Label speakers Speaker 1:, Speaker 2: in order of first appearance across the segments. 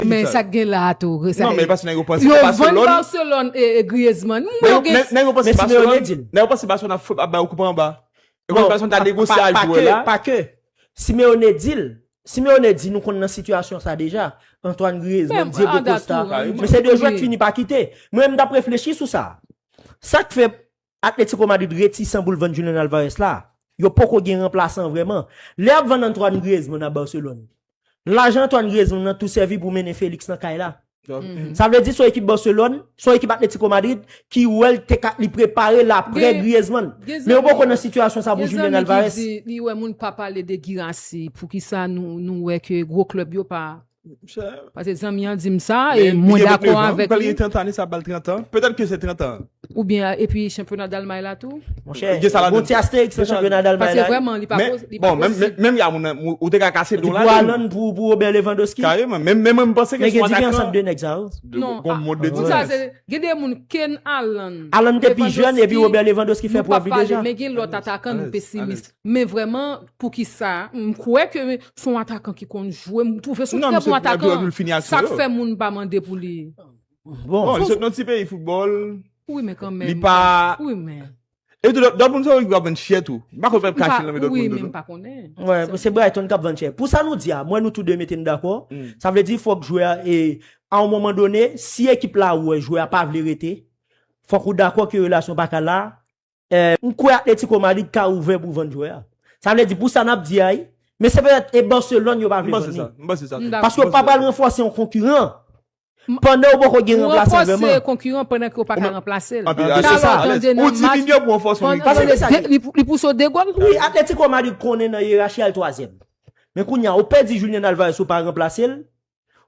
Speaker 1: Men sak gen la a tou. Non men paske nèg yo panse Barcelone. Yo
Speaker 2: vann
Speaker 1: Barcelone
Speaker 2: e
Speaker 1: Griezmann. Mwen yo gen. Nèg yo
Speaker 2: panse Barcelone. Nèg yo panse Barcelone ap fout ap bay yo koup anba. Yo panse Barcelone ta negosye ak jwè la. Pa ke.
Speaker 3: Simeone di l. Simeone di nou konn nan sitiyasyon sa deja. Antoine Griezmann, Diego Costa. Men se de jwè k fini pa kite. Mwen menm m tap reflechi sou sa. Sak fè Atletico Madrid retisan pou l vann Julian Alvarez la, yo poko gen ranplasan vrèman. Lè y ap vann Antoine Griezmann a Barcelone, lajan Antoine Griezmann nan tou sèvi pou mennen Felix nan kay la. Sa vle di se yon ekip Barcelone, se yon ekip Atletico Madrid ki wè l te ka li prepare l aprè Griezmann. Men yo poko nan sitiyasyon sa pou Julian Alvarez. Gen zanmi ki di li wè moun pa pale
Speaker 1: de Guirassy, poukisa nou wè ke gwo klèb yo pa Pase zanmi an dim sa e mwen dakò avèk li. Li gen 29 ans, li pral gen 30 ane sa ap bal 30
Speaker 2: ans. Petèt ke se 30 ans an. Ou byen epi
Speaker 1: chanpyona Dalmay la tou. Monchè, bon ti
Speaker 3: Astérix nan chanpyona Dalmay la. Pase vrèman li pa posib. Men,
Speaker 1: bon, menm
Speaker 2: ya moun nan, ou te ka kase don la don. Li pou Haaland pou
Speaker 3: Robert Lewandowski. Kareman, men mwen m panse ke son
Speaker 2: atakan. Men gen diferans ant 2 nèg sa
Speaker 3: yo. Non, a, pou
Speaker 1: sa se, gen 2 moun ken Haaland. Haaland te pi jèn
Speaker 3: epi Robert Lewandowski fè prèv li deja. Nou pa pale, men gen lòt atakan nou
Speaker 1: pesimis. Men vrèman poukisa m kwè ke se yon atakan ki konn jwe, m twouve se yon trè bon atakan, sa k fè moun pa mande pou li. Bon, li sot
Speaker 2: nan ti peyi foutbòl, li
Speaker 1: pa, e tou Dortmund
Speaker 2: se yon ekip k ap vann chè tou, m pa kwè pèp kache l nan men Dortmund tou non.
Speaker 1: Wè, se Brighton k
Speaker 3: ap vann chè. Pou sa nou di a, mwen nou tou 2 mete m dakò, sa vle di fòk jwè a, e a yon moman done, si ekip la wè jwè a pa vle rete, fòk ou dakò ke relasyon pa ka la, M kwè Atlético Madrid ka ouvè pou vann jwè a. Sa vle di pou sa nap di a wi. Men se petèt e Barcelone yo pa vle vann li. M panse sa tou. Paske yo pa
Speaker 2: pral ranfòse
Speaker 3: yon konkiran pandan yo poko gen ranplasan vrèman. Ou ranfòse konkiran pandan ke ou
Speaker 1: paka ranplase l. Se sa.
Speaker 3: Ou diminye pou
Speaker 2: ranfòse yon ekip. Paske sa ki. Li
Speaker 1: pouse w 2 gòl. Wi Atlético Madrid
Speaker 3: konnen nan yerachi a l twazyèm. Men kounya ou pèdi Julian Alvarez ou pa ranplase l.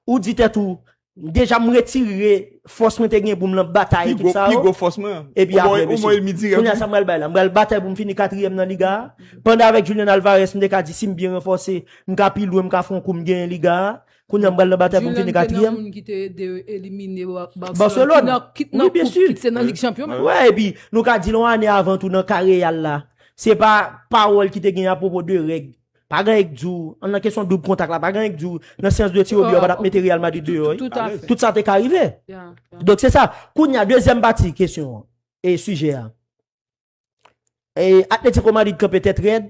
Speaker 3: Ou di tèt ou, M deja m retire fòs mwen te gen pou m lan batay ekip sa yo. Pi gwo fòs mwen. Epi aprè mesye. Ou mwen elmi dirèk. Kounye a sa m pral bay la. M pral batay pou m fini katriyèm nan liga a. Pandan avèk Julian Alvarez m te ka di si m byen ranfòse, m ka pi lwen, m ka fè yon kou m genyen liga a. Kounye a m pral nan batay pou m fini katriyèm. Julian te nan moun ki te ede yo
Speaker 1: elimine Barcelone. Barcelone.
Speaker 3: Kit nan koup, kit se nan lig chanpyon. Wè
Speaker 1: epi nou ka
Speaker 3: di l yon ane avan tou nan ka Real la. Se pa pawòl ki te gen apwopo de règ. Pa gen yk di w, an nan kesyon doub kontak la, pa gen yk di w nan seyans de tire obye yo pa tap mete Real Madrid deyò wi. Tout sa te ka rive. Donk se sa. Kounye a dezyèm pati kesyon an, e sijè a. E Atletico Madrid kanpe tèt rèd,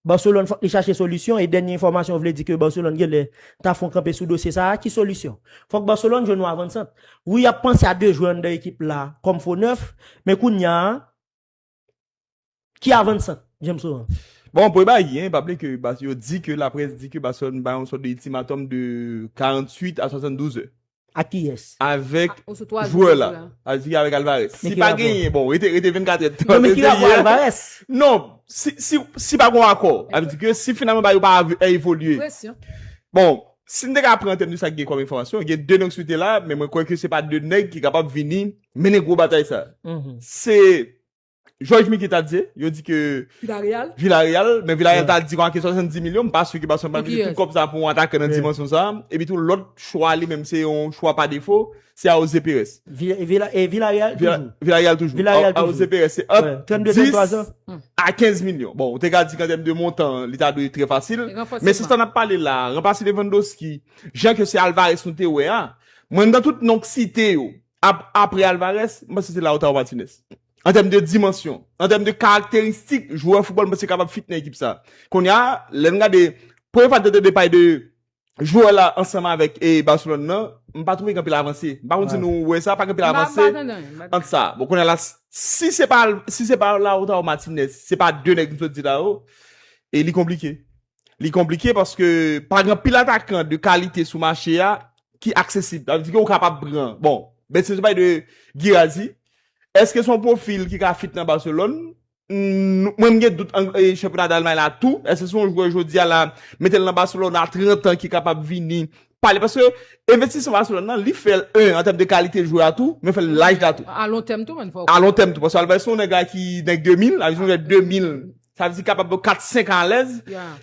Speaker 3: Barcelone fòk li chache solisyon e dènye enfòmasyon vle di ke Barcelone genlè ta fon kanpe sou dosye sa a. Ki solisyon? Fòk Barcelone jwenn yon avansant. Wi yap panse a 2 jwè anndan ekip la kòm fo nèf, men kounye a, Ki avan san James Laurent? Bon, premye bagay ki
Speaker 2: genyen, pa bliye ke yo di ke laprès di ke Barcelone bay yon sòt de iltimatòm de 48 a 72 zè. Ak kiyès?
Speaker 3: Avèk
Speaker 2: jwè la. Sa vle di avèk Alvarez. Si pa genyen, bon, rete 24 è de tan. Non men ki rapò Alvarez?
Speaker 3: Non,
Speaker 2: si pa gon akò. Sa vle di ke si finalman bagay yo pa evolye. Presyon. Bon, si m te ka pran antèm de sa ki gen kòm enfòmasyon, gen 2 nèg sou tè la, men mwen kwè ke se pa 2 nèg ki kapab vini mennen gwo batay sa. Se Jòj Miki ta di, yo di ke Villareal, men Villareal ta di manke 70 milyon, m pa si ki Barcelone pa mete tout kòb sa pou yon atakè nan dimansyon sa. Epi tou lòt chwa li menm se yon chwa pa defo, se Aoze Perez.
Speaker 3: Villareal toujou.
Speaker 2: Villareal toujou. Aoze Perez se ant 10 a 15 milyon. Bon, ou te ka di kantèm de montan, li ta dwe trè fasil. Men se sa n ap pale la, ranplase Lewandowski, jan ke se Alvarez nou te wè a, mwen nan tout non k site yo, Ap, apre Alvarez, m panse se Lautaro Martinez. An tèm de dimansyon, an tèm de karakteristik jwè foutbòl m panse kapab fit nan ekip sa. Kounye a, lè n gade, premye fwa n tande de pale de jwè la ansanm avèk e Barcelone nan, m pa twouve gen anpil avanse. M pa konn si nou wè sa, pa gen anpil avanse ant sa. Bon, kounye a la, si se pa, si se pa Lautaro Martinez, se pa de nèg m sot di la yo, e li konplike. Li konplike paske pa gen pil atakan de kalite sou mache a ki aksesib. Sa vle di ke ou kapab pran. Bon, men si nou pale de Guirassy, èske se yon pwofil ki ka fit nan Barcelone? Mwen m gen dout an chanpyona Dalmay la tou. Èske se yon jwè jodi a la, mete l nan Barcelone a 30 an ki kapab vini pale? Paske envestisman Barcelone nan, li fè l 1 an tèm de kalite jwè a tou, men fè l laj la tou. A lon tèm tou menn fò w konnen.
Speaker 1: A lon tèm tou. Paske Alvay
Speaker 2: se yon nèg la ki nèg 2000, sa vle di se yon jwè 2000. Sa di kapab pou 4 5 an alèz.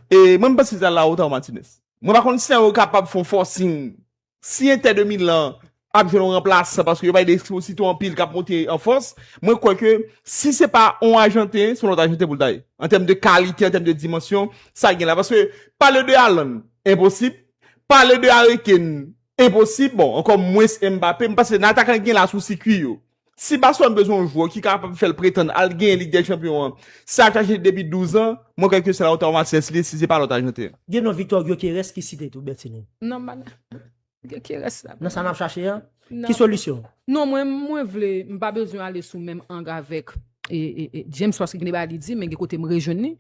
Speaker 2: E mwen m panse se a Lautaro Martinez. Mwen pa konn si sa yo kapab fè yon forcing. Si Inter de Milan ap jwenn yon ranplasan paske yo pale de Exposito anpil kap monte an fòs, mwen kwè ke si se pa yon ajanten, se yon lòt ajanten pou l ta ye. An tèm de kalite, an tèm de dimansyon, sa gen la. Paske pale de Haaland, enposib. Pale de Harry Kane, enposib. Bon, ankò mwens Mbappé. M panse nan atakan ki gen la sou sikwi yo. Si Barcelone bezwen yon jwè ki kapab fè l pretann al genyen Lig dè Chanpyon an, sa k aje depi 12 an, mwen kwè ke se Lautaro Martinez li ye si se pa lòt Ajanten. Gen non Victor Gyökeres
Speaker 3: ki site tou, Bertinie? Non m pa nan
Speaker 1: Gyökeres la. Nan sa n ap chache an?
Speaker 3: Ki solisyon? Non mwen, mwen
Speaker 1: vle, m pa bezwen ale sou menm ang avèk James paske gen de bagay li di men gen kote m rejwenn li.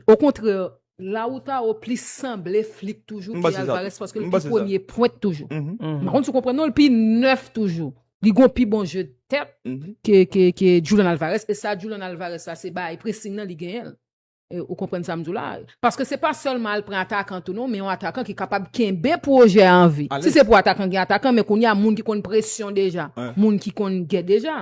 Speaker 1: Okontrè Lautaro plis sanble flik toujou ke Alvarez paske li pi premye pwent toujou. Mwen konn sou konprann non li pi nèf toujou. Li gon pi bon je tèt ke Julian Alvarez e sa Julian Alvarez la se bay pressing nan li genyenl. Ou konprann sa m di w la? Paske se pa sèlman al pran atakan tou non men yon atakan ki kapab kenbe pwojè an vi. Si se pou atakan gen atakan men kounya moun ki konn presyon deja, moun ki konn gè deja.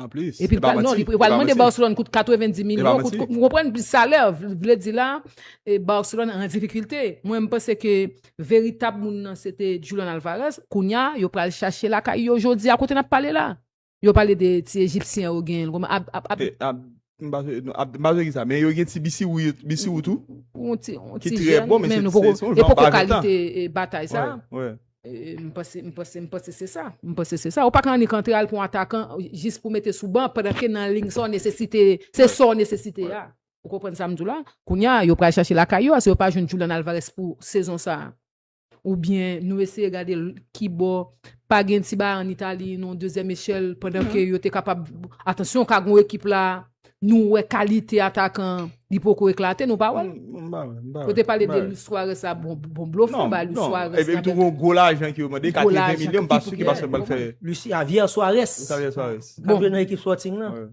Speaker 1: Anplis, e pa
Speaker 2: manti. Epi wal
Speaker 1: mande Barcelone kout 90 milyon kout. Ou konprann plis salè vle di la Barcelone an difikilte. Mwen m panse ke veritab moun nan se te Julian Alvarez. Kounya yo pral chache lakay yo jodi a kote nap pale la. Yo pale de ti ejipsyen yo genyen. Ap M pa swe, non, ap,
Speaker 2: m pa swe ki sa, men yo gen ti bisiwou yo, bisiwou tou, On ti, on ki ti trè
Speaker 1: jèn, bon, men men se, nou poko, se son e jan poko pa gen tan. kalite e batay sa. Wè, wè. E,
Speaker 2: m panse, m panse,
Speaker 1: m panse se sa. M panse se sa. Ou pa ka annik antre al pran yon atakan jis pou mete sou ban pandan ke nan lig sa w nesesite, se Wè, sa w nesesite wè. a. Ou konprann sa m di w la? Kounya, yo pral chache lakay yo a si yo pa jwenn Julian Alvarez pou sezon sa a. Ou byen nou eseye gade ki bò pa gen ti bagay an Itali, yon dezyèm echèl pandan ke yo te kapab. Atansyon, ka gen yon ekip la, nou wè kalite atakan an, li poko eklate, nou pa wè l? M pa wè, m pa wè. Yo te pale de Luis Suarez la, bon blofè yo bay Luis Suarez la. Non, non, epi tou gwo lajan
Speaker 2: ki yo mande, 80 milyon, m pa si ki Barcelone pral fè. Luis Javier Suarez.
Speaker 3: Luis Javier Suarez. Kap jwe nan ekip Sporting lan.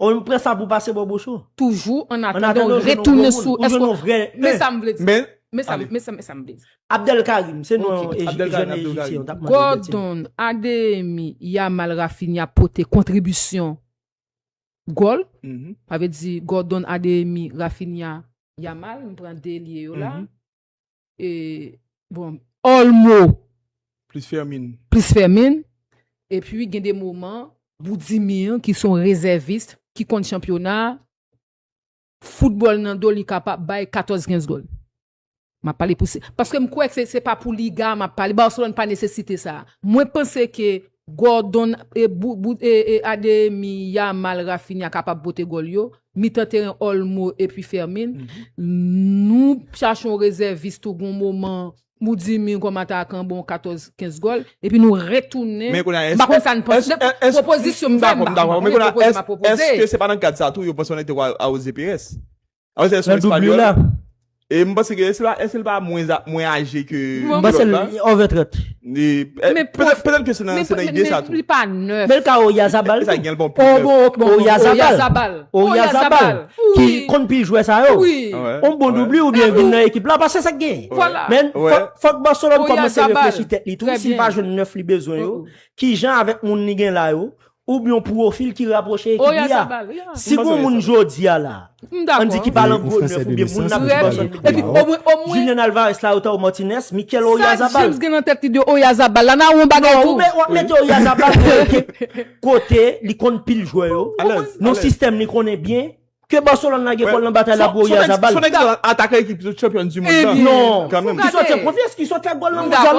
Speaker 1: Ou m pran
Speaker 3: sa pou pase bò bouch ou. Toujou an atandan
Speaker 1: ou retounen sou eske ou Men sa m vle di Men sa m vle di Abdelkarim se non
Speaker 3: yon jèn ejipsyen Gordon,
Speaker 1: Adeyemi, Yamal, Raphinha pote kontribisyon gòl sa vle di Gordon, Adeyemi, Raphinha, Yamal m pran 2 elye yo la E, bon, all mo. Plis
Speaker 2: fèmin. Plis fèmin.
Speaker 1: E pi gen de moman. Boudimir ki son rezèvis ki konn chanpyona a. Foutbòl nan do li kapab bay 14, 15 gòl. M ap pale pou se. Paske m kwè se pa pou liga a m ap pale. Barcelone pa nesesite sa a. Mwen panse ke Gordon e bout e e Adeyemi, Yamal, Raphinha kapab pote gòl yo, mitan teren Olmo epi Fermin. Nou chache yon rezèvis tou gon moman ou di min kòm atakan bon 14, 15 gòl epi nou retounen Men kounye a m pa konn sa n panse èske èske pwopozisyon m fè m dakò m dakò men kounye a
Speaker 2: èske se pa nan kad sa tou yo panse Olympique te ka awoze Pires? Ah, se son espagnol. Là. Et je pense que est-ce là, est-ce pas moins moins âgé que Bon, Mwen se l over 30.
Speaker 3: Mais peut-être
Speaker 2: peut-être que c'est dans c'est dans idée ça tout. Li pa neuf. Men ka
Speaker 1: Oyazabal.
Speaker 3: Sa gen l bon pou Oh bon, ok, bon, Oyazabal. Oyazabal. Oyazabal. Ki Oui. konn pi jwè sa yo. Oui. Ouais. On bon Ouais. doubli ou bien vin nan ekip la parce que ça gagne. Voilà. Men Ouais. fòk fòk Barcelone Oyazabal. kòmanse reflechi tèt li tou, Très si l bien. pa jwenn 9 li bezwen yo, Oh. ki jan avèk moun li gen la yo, Ou byen yon pwofil ki rapwoche ekip li a. Si gon moun jodi a la, an di ki pa lan gwo nèf ou byen moun nan plis bezwen kou Bilbao, Julian Alvarez, Lautaro Martinez, Mikel Oyarzabal. Non, ou ap mete
Speaker 1: Oyarzabal nan ekip
Speaker 3: kote li konn pil jwè yo, nan sistèm li konnen byen, ke Barcelone la gen pou al nan batay la pou Oyarzabal. Son egzanp, atakè
Speaker 2: ekip chanpyon
Speaker 3: di mond lan.
Speaker 2: Non,
Speaker 3: ki
Speaker 2: sòti
Speaker 3: an konfyans,
Speaker 2: ki
Speaker 3: sòti ak gòl nan
Speaker 2: mondyal
Speaker 3: la.